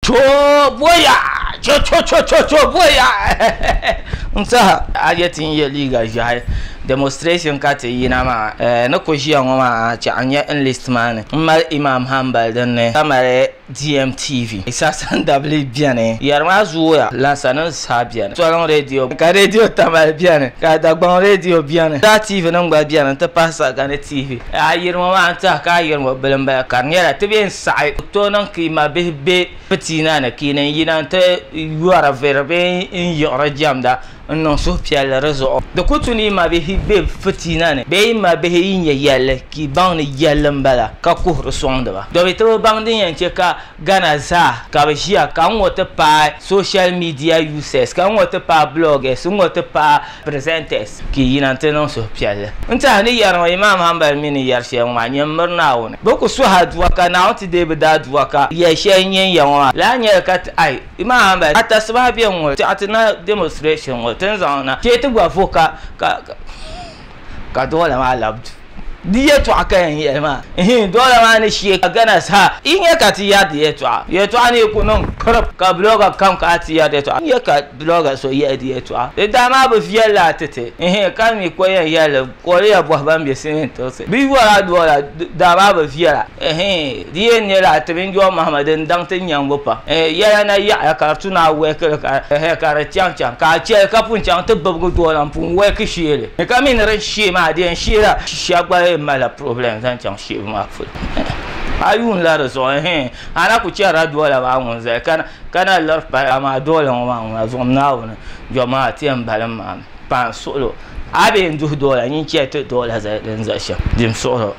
Choobuya! Cho cho cho cho choobuya! N saha a je ti n ye liiga ʒehi demonstration ka ti yina maa eh ni ku ʒiya ŋɔ maa chah n nya enlist maa ni n mali Imam Hanbal din ni ka mali DMTV Sasan dabili beni yeri maa zooya Lansa nim saha beni Toliŋ radio ka radio Tamale beni ka Dagbaŋ radio beni Daa TV nim gba beni n ti pahi Sagani TV. Ayirimo maa n tɛhi ka ayirimo bili n bala ka di nyɛla ti bɛn saɣi ku tooi niŋ ka i ma bihi bɛ pitiina ni ka i ni yina n ti yɔri viri bee n yiɣiri jɛmda n niŋ suhupiɛlli di zuɣu di ku tu ni i ma bihi bɛ pitiina ni bee i ma bihi yi nyɛ yɛlli ka i baŋ ni yɛlli n bala ka kuhiri sɔŋdi ba domi ti bi baŋ din yɛn chɛ ka Ghana zaa ka bi ʒiya ka n ŋɔ ti paai social media users ka n ŋɔ ti paai bloggers n ŋɔ ti paai Presenters, Ka yi yina nti niŋ suhupiɛlli n-ti a ni yɛri ŋɔ, Imaam Hanbali mi ni yɛri shɛli ŋɔ maa, nyɛ m-miri Naawuni. Bɛ ku suhi a dua, ka Naawuni ti deei bɛ daa dua, ka yɛli shɛli n-nyɛ n ya ŋɔ maa lahi nyɛli ka ti ai, Imaam Hanbali, a tasibahi be n-ŋɔ, tɛɣu ti na demonstration ŋɔ ti ni zaŋ na, chɛ ti gba vo ka, ka, ka, ka duɣili maa labi du. Di yɛtɔɣa ka yɛn yɛli maa, ihiin dɔla maa ni shie ka gana sa, yi nya ka ti yɛri di yɛtɔɣa. Yɛtɔɣa ni yi ku niŋ kirip ka blogger kam kana ti yɛri di yɛtɔɣa, nya ka blogger so yɛli di yɛtɔɣa. Di daa maa bi viɛli laa titi, ihiin ka di mi ko yɛn yɛli li, kɔliya bɔhi ban be sinin tirisi. Bɛ yɔra dɔla daa maa bi viɛla, ihiin. Di yɛn nyɛla ti mini Jɔn Mahama din daŋ ti nyɛŋgu pam. Yɛla na yaɣiya ka di tu ni a wɛhiki li ka hɛ ka di chaŋ chaŋ ka a chɛli ka pun chaŋ ti bibigi dɔla m-puhi wɛhiki sheeli ni ka mi ni di ni sheei maa di yɛn sheela shɛba gba yɛn malila purɔbulɛm zaŋ chaŋ sheebu maa polo. A yuunila di zuɣu hɛɛn a na ku chɛrila dɔla maa ŋun zali ka na ka na liri pali amaa dɔla ŋɔ maa ŋuna zuɣu Naawuni Jɔn Mahama ti yɛn balim maa mi paai n suɣili o a bee n duhi dɔla nyin chɛ ti dɔla zali din zali shɛm di ni suɣiri o.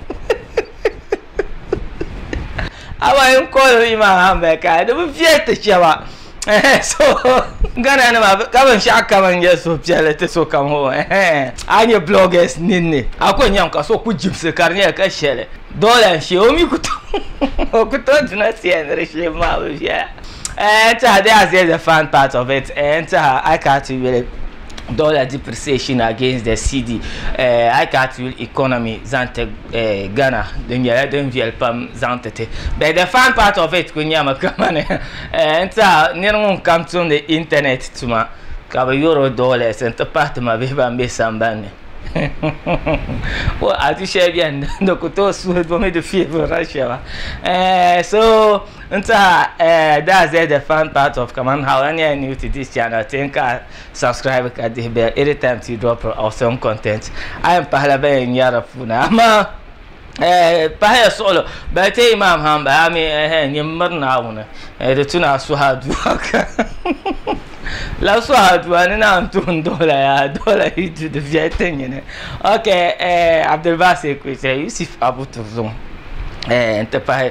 awa yin kɔɔli mi maa haa m-bali ka di bi viɛli ti chɛba so Ghana nima ka binshɛɣu kam n-nyɛ suhupiɛlli ti sokam o a nya bloggers ninni a kuli nyami ka so kuli jibisi ka di nyɛla ka shɛli dɔla n-shee o mi ku tooi o ku tooi duna tia ni di shee maa bi viɛla n-tɛha they are just a fun part of it n-tɛha I can't really dollar depreciation against the cedi eh, a yi ka ti yuli economy zaŋ ti eh, ghana di nyɛla din viɛli pam zaŋ ti ti but the fun part of it ku nyɛmi kamani eh, n tiɛha niri ŋun kam tumdi internet tuma ka bi yoro dollars n ti pahi ti mabihi ban be sambanni well, a du shɛli bɛni di ku tooi suhi domi di fiɛbi russia ba eh, so N tiɛha eh, daa zɛhi the fan part of kaman how a nyɛla new to this channel ti n ka a subscribe ka dihi bell any time ti drop awesome content a yɛn pahila ban yɛn nyari di puuni amaa eh, pahiya suɣulo bali ti imam ha m-bala a mi eh, nyin m-miri Naawuni eh, di tuna a suhi aduwa ka la suhi aduwa ni na n tuhi n dɔla ya dɔla yi du di viɛli ti nyini ok eh, Abdulbasir Kuitre Yusuf Abu Turzum eh, n ti pahi